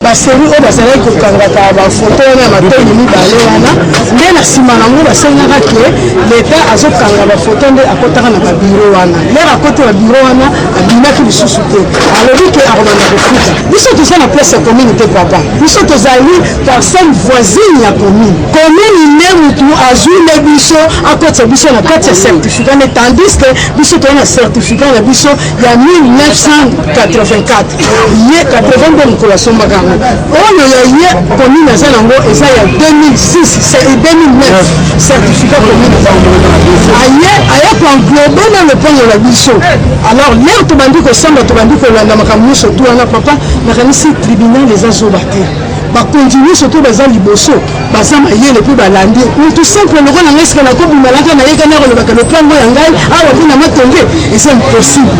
Basengi oyo bazalaki kokangaka bafoto wana ya matoi mibale wana nde na nsima nango basengaka ke leta azokanga bafoto nde akotaka na babiro wana lere akoti babiro wana abimaki lisusu te alobi ke akobanda kofuta biso toza na place ya commune te papa biso tozali parcelle voisine ya commune commune nde motu azwi nde biso akotisa biso na kati ya certificat nde tandis ke biso toza na certificat na biso ya 1984 ye 80 nde mokolo asombaka yango oyo ya ye commune aza nango eza ya 2009 certificat commune aye aye koenglobe na lopango na biso alors lere tobandi kosamba tobandi kolanda makambo nyonso tu wana papa nakanisi tribunal eza zoba te bakonzi nyonso mpe baza liboso baza mayele mpe balandi mutu simple loko na ngai sika nakobimalaka nayekani akolobaka lopango ya ngai awa mpe na matonge eza impossible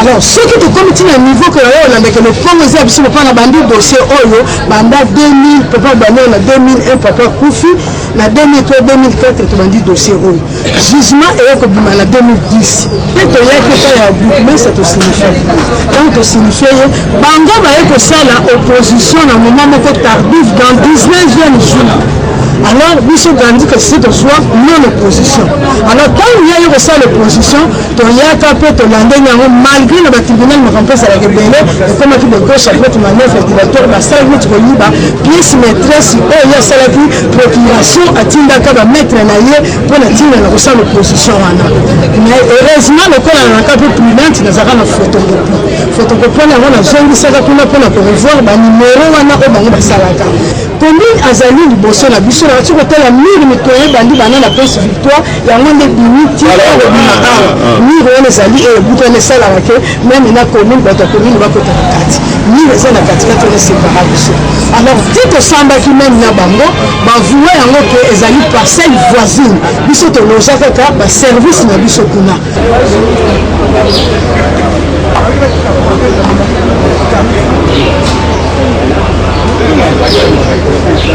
alors soki tokomi ti na niveau ke oyo olandaka lopango eza ya biso papa na bandi dossier oyo banda 2000 papa banoo na 2001 papa kufi na 2003 2004 tobandi dossier oyo jugement eye kobima na 2010 mpe toyaki epai ya bourgmestre tosignifie ntango tosignifie ye bango baye kosala opposition na moment moko tardif dans 19e jour alors biso gandi kasi tozwa non opposition alors ntango ya ye kosala opposition toyaka mpe tolandeni yango malgré na batribunal makambo mpe ezalaka ebele ekomaki de gauche à droite manœuvre dilatoire basalaki neti koyiba pièce maîtresse oyo ye asalaki procuration atindaka ba maître na ye mpo na ntina na kosala opposition wana mais heureusement lokola nanaka mpe prudente nazalaka na photocopie photocopie wana yango nazongisaka kuna mpo na korevoir banimero wana oyo bango basalaka commune azali liboso na biso na bati kotala mire mitoye ebandi bana na prince victoire yango nde bimi ti mire wana ezali ebutana esalaka te meme na commune bato ya commune bakota na kati mire eza na katikati wana separa biso alors ti tosambaki meme na bango bavoua yango ke ezali parcelle voisine biso toloja kaka baservice na biso kuna Thank you.